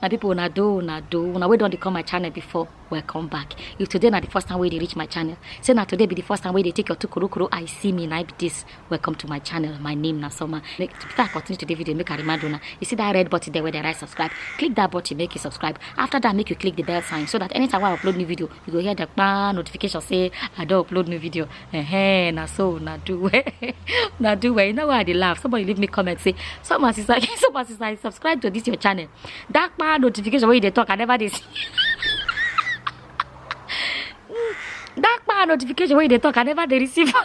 my people una do una do una wey don dey come my channel before welcome back if today na the first time wey dey reach my channel say na today be the first time wey dey take your two kurukuru eye see me na be this welcome to my channel my name na soma make before i continue today video make i remind una you see that red button there wey dey write subscribe click that button make you subscribe after that make you click the bell sign so that anytime wey i upload new video you go hear the kpa notification say i don upload new video eh na so na do well na do well you know why i dey laugh somebody leave me comment say someone since i someone since i subscribe to this your channel that kpa notification wey you dey talk i never dey see that kpa notification wey you dey talk i never dey receive am.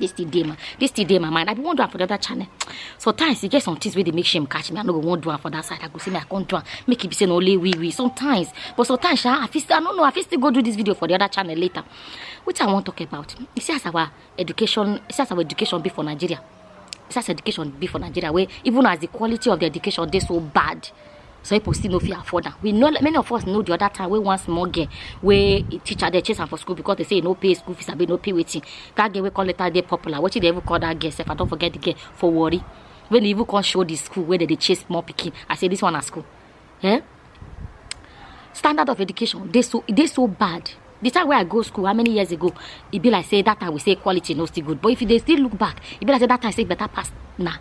this thing dey my this thing dey my mind i bin wan do am for the other channel sometimes e get some things wey dey make shame catch me i no go wan do am for that side i go say me i come do am make e be say na only we we sometimes but sometimes sha i fit still i no know i fit still go do this video for the other channel later wetin i wan talk about you see as our education see as our education be for nigeria such education be for nigeria wey even as the quality of the education dey so bad some people still no fit afford am we know many of us know the other time wey one small girl wey e teacher dey chase am for school because they say e no pay school fees abi e no pay wetin that girl wey come later dey popular wetin dey even call that girl sef i don forget the girl for warri wey dey even come show the school wey dey dey chase small pikin i say this one na school eh standard of education dey so e dey so bad the time wey i go school how many years ago e be like say that time we say quality no still good but if you dey still look back e be like say that time say better pass na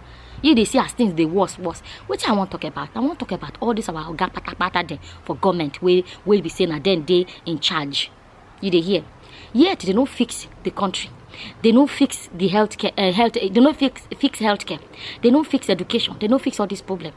you dey see as things dey worse worse wetin i wan talk about i wan talk about all this our oga patapata dem for government wey wey be say na dem dey in charge you dey hear yet they no fix the country they no fix the health care uh, health they no fix fix health care they no fix education they no fix all this problem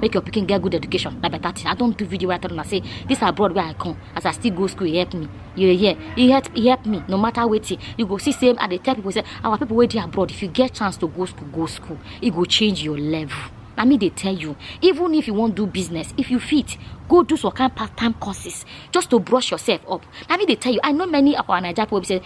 make your pikin get good education na better thing i don do video wey i tell una say this abroad wey i come as i still go school e help me you dey hear e help e help me no matter wetin you go see say i dey tell people say our people wey dey abroad if you get chance to go school go school e go change your level na me dey tell you even if you wan do business if you fit go do some kind part time courses just to brush yourself up na me dey tell you i know many of our naija people wey be say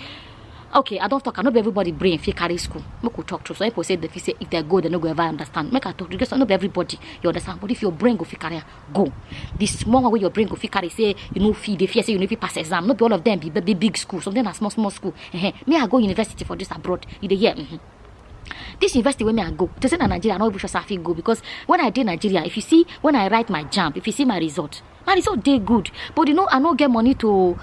okay i don talk am no be everybody brain fit carry school make we talk true some people say they fit say if they go they no go ever understand make i talk true because no be everybody you understand but if your brain go fit carry am go the small one wey your brain go fit carry say you no fit dey fear say you no fit pass exam no be all of them be big big, big school some dem na small small school uh-huh. me i go university for this abroad you dey hear. Mm-hmm. This university wey me I go, to say na Nigeria, I no even sure say I fit go because when I dey Nigeria, if you see when I write my jam, if you see my result, my result dey good, but you know I no get money to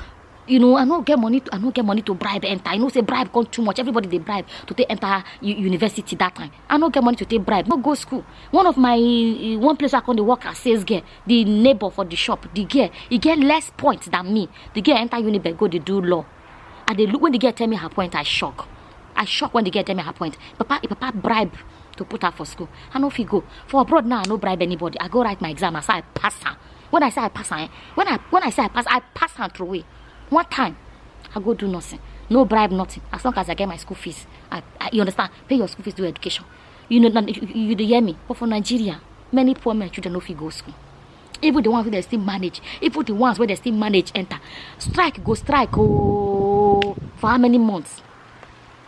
you know i no get money to i no get money to bribe enter you know say bribe come too much everybody dey bribe to take enter university that time i no get money to take bribe no go school one of my eh, one place i come dey work as sales girl the neighbor for the shop the girl e get less point than me the girl enter unibe go dey do law i dey look when the girl tell me her point i shock i shock when the girl tell me her point papa e papa bribe to put her for school i no fit go for abroad now i no bribe anybody i go write my exam as i pass am when i say i pass am eh when i when i say i pass i pass am throw away one time i go do nothing no bribe nothing as long as i get my school fees i, I you understand pay your school fees do education you know na- you, you dey hear me but for nigeria many poor men children no fit go school even the ones wey dey still manage even the ones wey dey still manage enter strike go strike ooo for how many months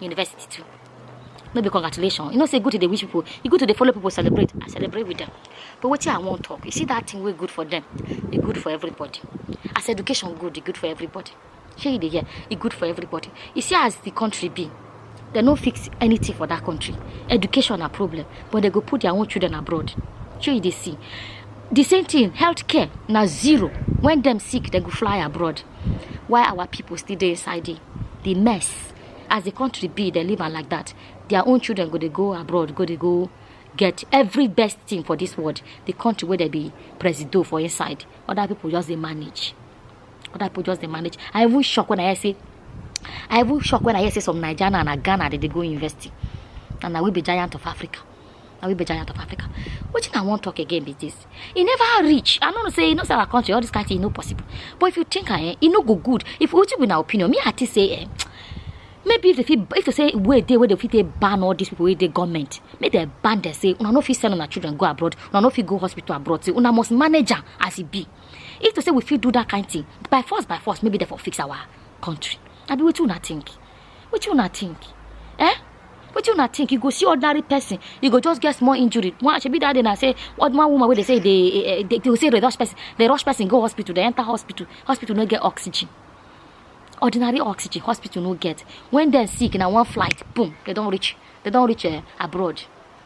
university too no be congratulations. you know say good to the wish people e good to the follow people celebrate i celebrate with them but what i wan talk you see that thing wey good for them e good for everybody as education good e good for everybody shey you dey hear e good for everybody you see as the country be dem no fix anything for that country education na problem but they go put their own children abroad shey you dey see the same thing health care na zero when dem sick dem go fly abroad why our people still dey inside the the mess as the country be they live am like that their own children go dey go abroad go dey go get every best thing for this world the country where they be presido for inside other people just dey manage other people just dey manage i even shock when i hear say i even shock when i hear say some naija na na ghana dey dey go university and na we be giant of africa na we be giant of africa wetin i wan talk again be this e never reach i no know say you know say our country all this kind thing e no possible but if you think am eh e no go good if wetin be na opinion me i think say eh maybe if they fit if they say wey dey wey they fit take ban all these people wey dey government make dem ban dem say una no fit send una children go abroad una no fit go hospital abroad say una must manage am as e be if to say we fit do that kind thing by force by force maybe dem for fix our country abi wetin una think wetin una think eh wetin una think you go see ordinary person you go just get small injury one shebi that day na say one one woman wey dey say dey eh, eh, dey dey say dey rush person dey rush person go hospital dey enter hospital hospital no get oxygen ordinary oxygen hospital no get when dem sick na one flight boom dem don reach dem don reach eh, abroad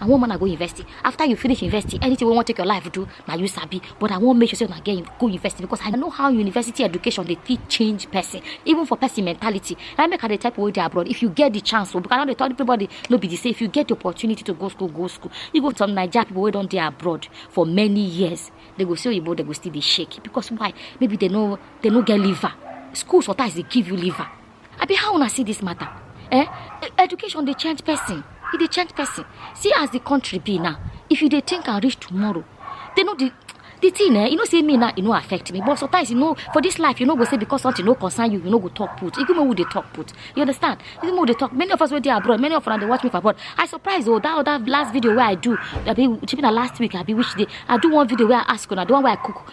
i wan man i go university after you finish university anything wey wan take your life do na you sabi but i wan make sure say una get go university because i know how university education dey fit change person even for person mentality na make i dey tell people wey dey abroad if you get the chance o because i no dey tell everybody no be the same if you get the opportunity to go school go school you go to some naija people wey don dey abroad for many years they go see oyibo they go still dey shake because why maybe they no they no get liver schools sometimes dey give you liver abi how una see this matter eh e, education dey change person e dey change person see as the country be now if you dey think am reach tomorrow they no dey the thing eh you know say me now e no affect me but sometimes you know for this life you no go say because something no concern you you no go talk put even when we dey talk put you understand even when we dey talk many of us wey dey abroad many of una dey watch me for abroad i surprise oh that other last video wey i do abi shebi na last week abi which day i do one video wey i ask una the one wey i cook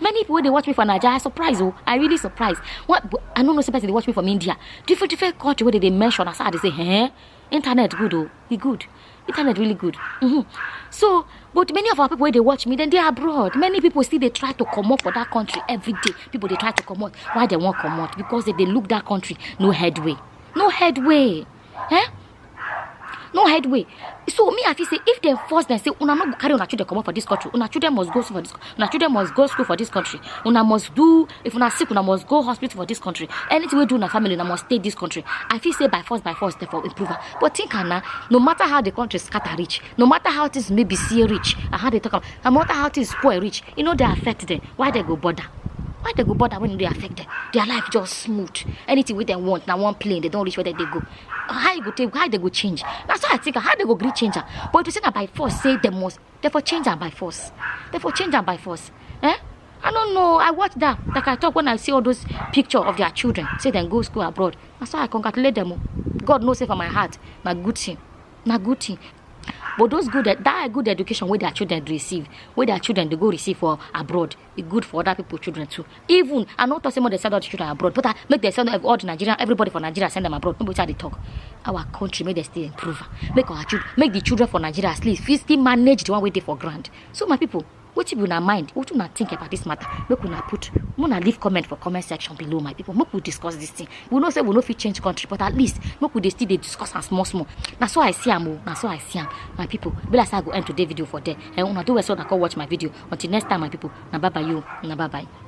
many people wey dey watch me for naija i surprise o oh. i really surprise what i no know say person dey watch me from india different different culture wey dey dey mention as i dey say eh internet good o oh. e good internet really good mm -hmm. so but many of our people wey dey watch me dem dey abroad many people still dey try to comot for that country every day people dey try to comot why dem wan comot because dem dey look that country no headway no headway eh no hide way so me i feel say if dem force dem say una no go carry una children comot for dis country una children must go school for dis una children must go school for dis country una must do if una sick una must go hospital for dis country anything wey do una family una must stay dis country i feel say by force by force dem for improve am but think am na no matter how the country scatter reach no matter how things maybe see reach and how they talk am no matter how things spoil reach e no dey affect dem why they go bother why they go bother when e dey affect them? their life just smooth anything wey dem want na one plane they don reach where they dey go how e go take how they go change na so i think how they go gree change am but if you say na by force say dem must dem for change am by force dem for change am by force eh i no know i watch that like i talk when i see all those picture of their children say dem go school abroad na so i congratulate dem o god know say for my heart na good thing na good thing but those good e- that good education wey their children dey receive wey their children dey go receive for abroad e good for other people children too even i no talk say make dem send all the children abroad but ah make dem send ev- all the nigerian everybody for nigeria send them abroad no be wetin i dey talk our country make dem still improve am make our children make the children for nigeria at least fit still manage the one wey dey for ground so my people wetin be una mind wetin una think about this matter make una put make una leave comment for comment section below my people make we discuss this thing we know say we no fit change country but at least make we dey still dey discuss am small small na so i see am o na so i see am my people e be like say i go end today video for there eh una do well so una come watch my video until next time my people na bye bye you na bye bye.